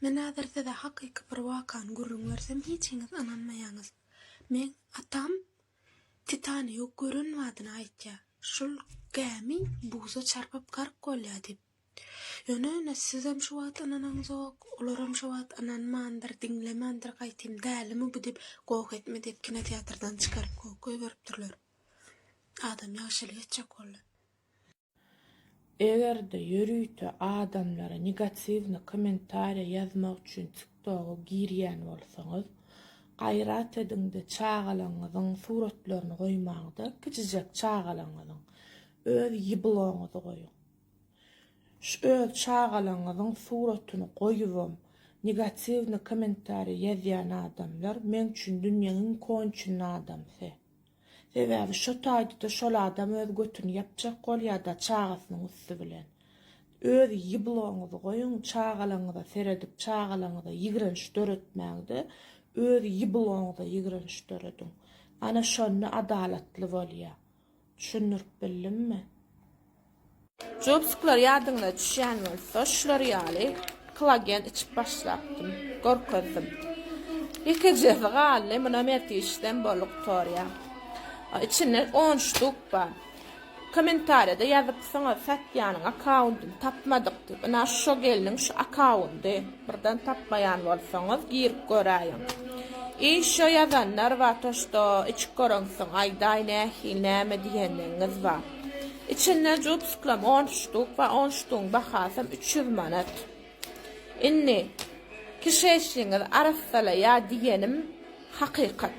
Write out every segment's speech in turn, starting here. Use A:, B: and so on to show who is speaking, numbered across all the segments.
A: Men häzir size hakyky bir wakany gürrüň bersem hiçiňiz ynanmaýaňyz. Meň atam Titanigy gören badyna aýtýar, Şol gämi buza çarpyp gark bolýar diýip. Ýöne ine sizem şu wagt ynanaňzok, olaram şu wagt ynanmandyr, diňlemändir gaýtym dälimi bu diýip goh etme diýip kinoteatrdan çykaryp goh goýberipdirler. Adam ýagşylyk etjek boldy. Eger-de ýörite adamlara negatiwny kommentariýa ýazmak üçin TikToga girýän bolsaňyz, gaýrat ediňde çagalaňyzyň suratlaryny goýmaňda kiçijek çagalaňyzyň öz ýbloňyzy goýuň. Şu öz çagalaňyzyň suratyny goýubam negatiwny kommentariýa ýazýan adamlar meň üçin dünýäň iň konçenny adamsy. Sebäbi şo taýda-da şol adam öz götüni ýapjak bolýa-da çagasynyň üsti bilen. Öz ýybylaňyzy goýuň, çagalaňyza seredip, çagalaňyza ýigrenç döretmäň-de, öz ýybylaňyza ýigrenç dörediň. Ana şonda adalatly bolýa. Düşündirip bildimmi? Jopsikler ýadyňyza düşýän bolsa, şular ýaly klagen içip başlapdym. Görkezdim. Ýekejesi galdy, muna mertişdem bolup torýa. Içinde on ştuk bar. Kommentariýada ýazypsyňyz, satýanyň akkauntyny tapmadyk diýip. Ynha şo gelniň şu akkaunty. Birden tapmaýan bolsaňyz, girip göräýiň. I şo ýazanlar bar, to, şto içip göreňsoň aýdaý nähili, näme diýenligiňiz bar. Içinde jubsyklam on ştuk bar, on ştugyň bahasam üç ýüz manat. Indi kişeşliňizi arassalaýa diýenim hakykat.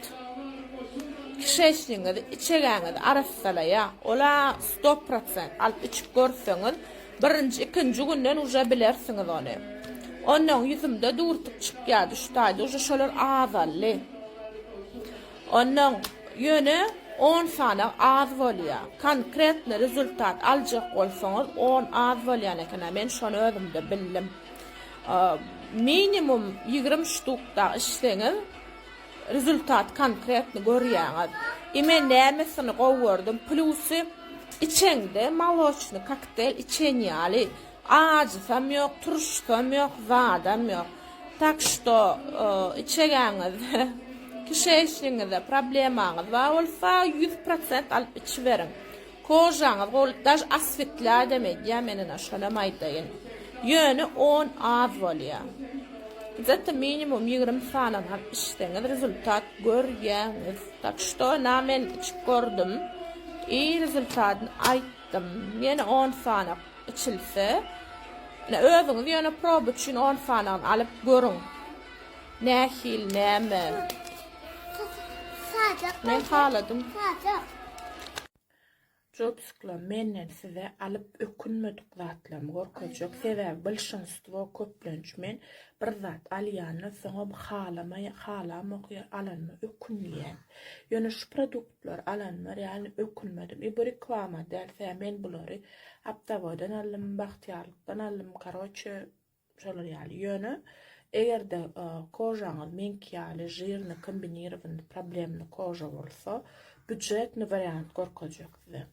A: Kişeşliňizi, içegäňizi arassalaýa. Ol-a sto prosent. Alyp içip görseňiz, birinji, ikinji günden uje bilersiňiz ony. Onnoň ýüzümde dürtük çykýardy şu taýda, uje şolar azaldy. Ondan ýöne on sany az bolýa. Konkretny rezultat aljak bolsaňyz on az bolýan ekena men şony özümde bildim. Minimum ýigrimi ştukda işseňiz rezultat konkretny görýäňiz. I men nämesini gowy gördüm plusy içeňde moloçny kokteýl içen ýaly Ajysam ýok, turşusam ýok, zadam ýok. Tak şto, içegeňiz, kişeýşligiňizde problemaňyz bar bolsa, ýüz prosent alyp içiberiň. Kožaňyz gowy, daž aswitläýdem edýär, men ine şolam aýdaýyn. Ýöne on az bolýar. Gzet-a minimum ýigrimi sany alyp içseňiz rezultat görýäňiz. Tak şto, ynha men içip gördüm i rezultatyny aýtdym. Ýene on sany. Içilse. Ine, özüňiz ýöne proba üçin on sanyny alyp görüň. Nähili, näme? Men haladym. Jopskla, menden size alyp ökünmedik zatlarymy görkezjek. Sebäbi blşinstwo köplenç men bir zat alýanda soňam halamaýan, halamok ýa alanyma ökünýän. Ýöne şu produkt Bular alanlar ýaly ökünmedim. I bu reklama däl sä men bulary aptaboýdan aldym bagtyýarlykdan aldym karoçe şolar ýaly ýöne egerde kožaňyz meňki ýaly žirny kombinirowany problemny koža bolsa budjetny wariant gorkezjek size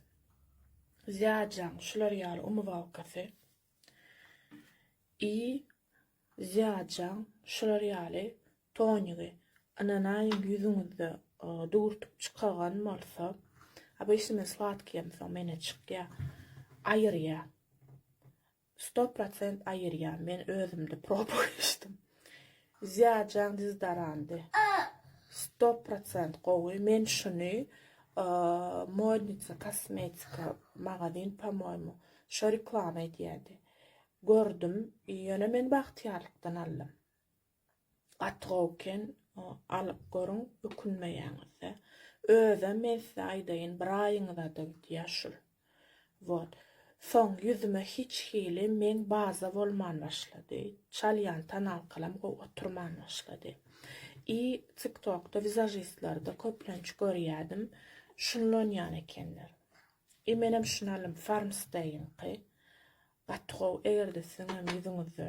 A: zýajaň şular ýaly umywalkasy i zýajaň şular ýaly Tonygy, ynanaýyň ýüzüňizde dürtüp çykagan bolsa, obysnymy sladkiýem soň menä çykýa, aýyrýa. Sto prosent aýyrýa, men özümde proba geçdim. Zyýajaň diz darandy. Sto prosent gowy, men şuny Modnitsa kosmetika magazin pamoýmu, şo reklama edýädi. Gördüm, ýöne men bagtyýarlykdan aldym. Gaty gowy eken alyp görüň ökünmeýäňizde. Özem men size aýdaýyn bir aýyňyzada gidýär şul. Wot. Soň ýüzüme hiç hili meň baza bolman başlady. Çalýan tonalkalam gowy oturman başlady. I tik tokda wizajistlerde köplenç görýädim şunlanýan ekenler. I menem şuny alym farmstayňky. Gaty gowy egerde siziňem ýüzüňizde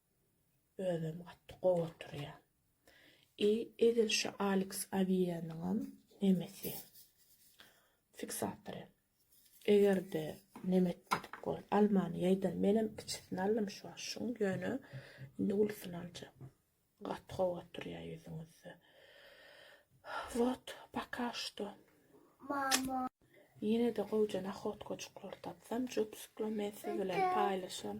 A: Özem gaty gowy oturýa. I edil şu Aleks Awiýanyňam nemesi. Fiksatory. Egerde neme etmedik bol. Almany ýaýdan menem kiçisini aldym şu wagt şuň ýöne indi ulusyny aljak. Gaty gowy oturýa ýüzüňizde. Wot paka şto. Mama. Ýenede gowja nahotkajyklar tapsam jopsykla men siz bilen paýlaşaryn.